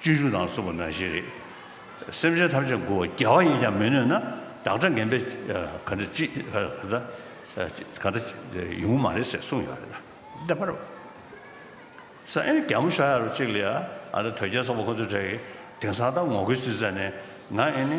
བཅུ་བཞི་དང་གསུམ་པོ་ནང་བཞིན་རེད། སེམས་ཅན་ཐམས་ཅད་མགུ་བ་རྒྱལ་བ་ཡིན་ཀྱང་མི་ནུས་ན་བདག་སྒྲ་ངན་པས་ག་འདྲ་ཅི་ག་འདྲ་ཡོང་གི་མ་རེད་ཟེར་གསུངས་ཡོད་རེད། བདེན་པར། སང་ཨེ་རྒྱ་མོ་ཤར་ཡ་ཅིག་ལ་ཡ་ཨ་ནི་དོལ་རྒྱལ་ཚོགས་པ་ཁོ་ཚོའི་གྲས་ཀྱི་དེང་སང་ད་ངོ་རྒོལ་བྱེད་ས་ནས་ང་ཨེ་ནི།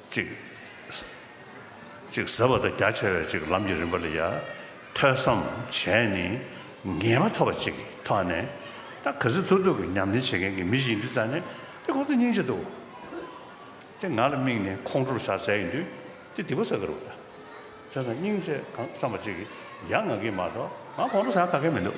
ཅིག། ཅིག་ཟེར་བ་དང་རྒྱ་ཆེ་བས་ཅིག་ལམ་གྱི་རིམ་པ་ལ་ཡ། ཐོས་བསམ་བྱས་ནས་ངེས་པ་ཐོབ་པ་ཅིག་ཐོས་ནས། ད་ག་ཟི་ཐུར་ཐུར་གྱི་ཉམས་ལེན་བྱེད་མཁན་གྱི་མི་ཞིག་ཡིན་དུས་ཙང་ནས་དེ་ཁོང་ཚོ་སྙིང་རྗེ་འདུག། དེ་ང་ལ་དམིགས་ནས་ཁོང་ཁྲོ་བྱ་ཟེར་ཡིན་དུས་དེ་སྡིག་པ་བསགས་ཀྱི་རུག་ད། དེ་ཙང་སྙིང་རྗེ་གང་བསམ་པ་ཅིག་གིས་ཡ་ང་གིས་མ་གཏོགས་ང་ཁོང་ཁྲོ་བྱ་ག་གེ་མི་འདུག།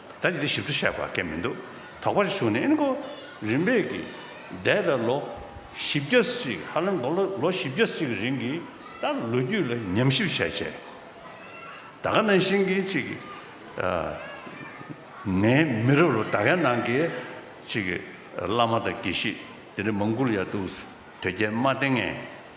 ད་ནི་འདི་ཞིབ་ཏུ་བཤད་པ་གལ་མི་འདུག་དོགས་པ་ཞིག་བྱུང་ནས་ཨེ་གོ། རིམ་པས་ཀྱི། འདས་པའི་ལོ། བཞི་བརྒྱ་གཅིག་ཧ་ལམ་ལོ་ལོ་བཞི་བརྒྱ་གཅིག་གི་རིང་གི་ཏར་ལོ་རྒྱུས་ལ་ཉམས་ཞིབ་བྱས་རྗེས། ད་ག་ནང་བཞིན་གྱི་ཅིག། ངའི་མི་རབས་ལོ་ད་གའི་ནང་གི། ཅིག། བླ་མ་དང་དགེ་བཤེས་དེ་འདྲ་མང་དགུ་ལ་ཡར་འདུག། དོལ་རྒྱལ་དམར་སྟེང་ངས།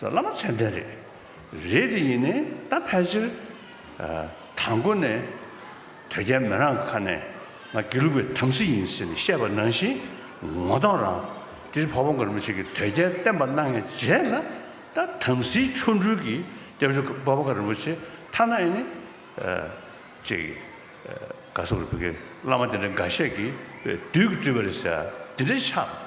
བླ་མ་མཚན་ལྡན་རེད། རེད་དེ་ཡིན་ནས་ད་ཕལ་ཆེར། དང་པོ་ནས་དོལ་རྒྱལ་མི་རང་ཁ་ནས་ང་དགེ་ལུགས་པའི་དམ་སྲི་ཡིན་ཟེར་ནས་བཤད་པ་ནང་བཞིན་ངོ་གདོང་རང་དེ་བྱས་ཕ་བོང་གར་མི་བྱེད་ཀྱི་དོལ་རྒྱལ་བསྟན་པ་གནང་ཡས་རྗེས་ལ་ད་དམ་སྲིའི་ཆོ་འཕྲུལ་གྱི་སྐྱབས་ཆོ་ག་བ་བོང་ག་རིན་པོ་ཆེ་ཐ་ན་ཨེ་ནི། ཅེས། ག་སོག་རུ་བུ་གའི་བླ་མ་དེ་འདྲ་འགའ་ཤས་ཀྱིས་བདུད་ཀྱི་སྤྲུལ་པ་རེད་ཟེར་དེ་འདྲ་ཆགས།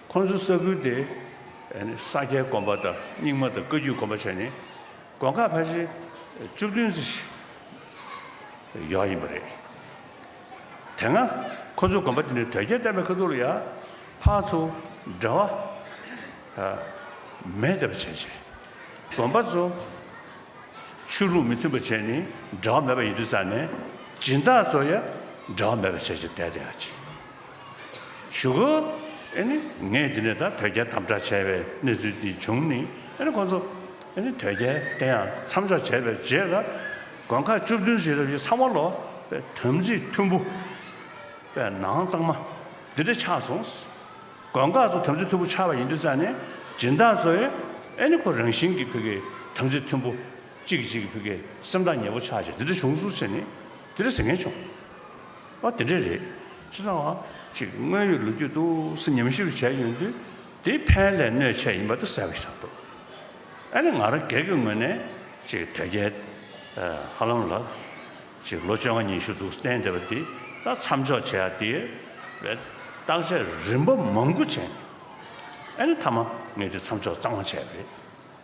ཁོ་ཚོའི་ས་ཁུལ་དེ་ས་སྐྱའི་གོམ་པ་དང་རྙིང་མ་དང་བཀའ་རྒྱུད་གོམ་པ་བྱས་ནས་གོང་ཁ་ཕ་ཤེལ་བཅུ་བདུན་ཚོ་ཞིག་ཡོད་ཡིན་པ་རེད། དེ་སྔ་ཁོ་ཚོའི་གོམ་པ་དེ་ནི་དོལ་རྒྱལ་བསྟན་པའི་ཁ་ཐུག་ལ་ཡ་ཕ་ཚོ་འདྲ་བ་མེད་བསྡད་པ་བྱས་བྱས་གོམ་པ་ཚོ་ཆོས་ལུགས་མི་མཐུན་པ་བྱས་ནས་འདྲ་བ་མེད་པ་ཡིན་དུས་ཙང་ནས་སྦྱིན་བདག་ཚོ་ཡ་འདྲ་བ་མེད་པ་བྱས་བྱས་བསྡད་བསྡད་ཡ་བྱས། ཞུ་གོ། ཨེ་ནི། ངས་འདི་ནས་ད་དོལ་རྒྱལ་དམ་དྲག་བྱས་པའི་གནས་ཚུལ་འདི་བྱུང་ནི་ཨེ་ནི་ཁོང་ཚོ། ཨེ་ནི། དོལ་རྒྱལ་དེ་ཡང་མཚམས་འཇོག་བྱས་པའི་རྗེས་ལ། དགོན་ཁག་བཅུ་བདུན་ཞིག་རབ་ཞི་ཚང་བ་ལོ། པའི་དམ་ཚིག་མཐུན་པོ། པའི་ནང་གཙང་མ། འདི་འདྲ་ཆགས་སོང། དགོན་ཁག་ཚོ་དམ་ཚིག་མཐུན་པོ་ཆགས་པ་ཡིན་དུས་ཙང་ནི། སྦྱིན་བདག་ཚོས། ཨེ་ནི་ཁོ་རང་བཞིན་གྱིས་ཕི་གེ་དམ་ཚིག་མཐུན་པོ། ཅིག་གཅིག་གི་ཕི་གེ་སེམས་ཐག་ཉེ་བོ་ཆགས་ཅིག་འདི་འདྲ་བྱུང་སུ་ཆེ་ནི། འདི་འདྲ་ཟེར་མཁན་བྱུང། པ་དེ་འདྲ་རེད། ཅི་ཙང་བ་གཅིག་དངོས་ཡོད་ལོ་རྒྱུས་ཏུག་སེ་ཉམས་ཞིབ་བྱས་ཡོང་དུས་དེ་ཕན་ལས་གནོད་ཆེ་ཡིན་པ་དེ་གསལ་བོ་ཆགས་འདུག་ཨ་ནི་ང་རང་སྒེར་གྱི་ངོས་ནས་གཅིག་དོལ་རྒྱལ་ཧ་ལམ་ལ་གཅིག་ལོ་བཅོ་ལྔ་ཉི་ཤུ་འདུག་བསྟན་བསྡད་པ་དེ་ད་མཚམས་འཇོག་བྱས་ཡ་དེ་བརྟག་དཔྱད་རིམ་པ་མང་པོ་བྱས་འདུག་ཨ་ནི་མཐའ་མ་ངས་དེ་མཚམས་འཇོག་གཙང་མ་བྱས་པ་རེད།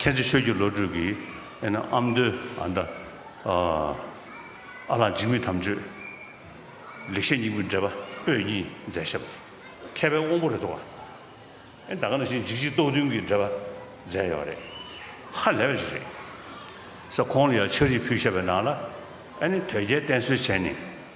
ཁྱེད་ཀྱི་ཆོས་ཀྱི་བློ་གྲོས་ཀྱིས་ཨེ་ན་ཨམ་མདོའི་ཨ་མདའ། ཨ་ལགས་འཇིགས་མེད་དམ་ཆོས། ལེགས་བཤད་སྙིང་པོའི་འགྲེལ་པ་པོད་གཉིས་མཛད་ཞབས་ཀྱི་མཁས་པའི་དབང་པོ་རེད་དོ། ད་ག་ནང་བཞིན་འཇིགས་བྱེད་རྟོག་བདུན་གྱི་འགྲེལ་པ་མཛད་ཡོད་རེད། ཧ་ལས་པ་ཞིག་རེད། ས་ཁོང་ལ་ཡང་ཕྱག་རིས་ཕུལ་ཞབས་པའི་ནང་ལ་ཨེ་ནི་དོལ་རྒྱལ་བསྟེན་གསོལ་བྱས་ནས།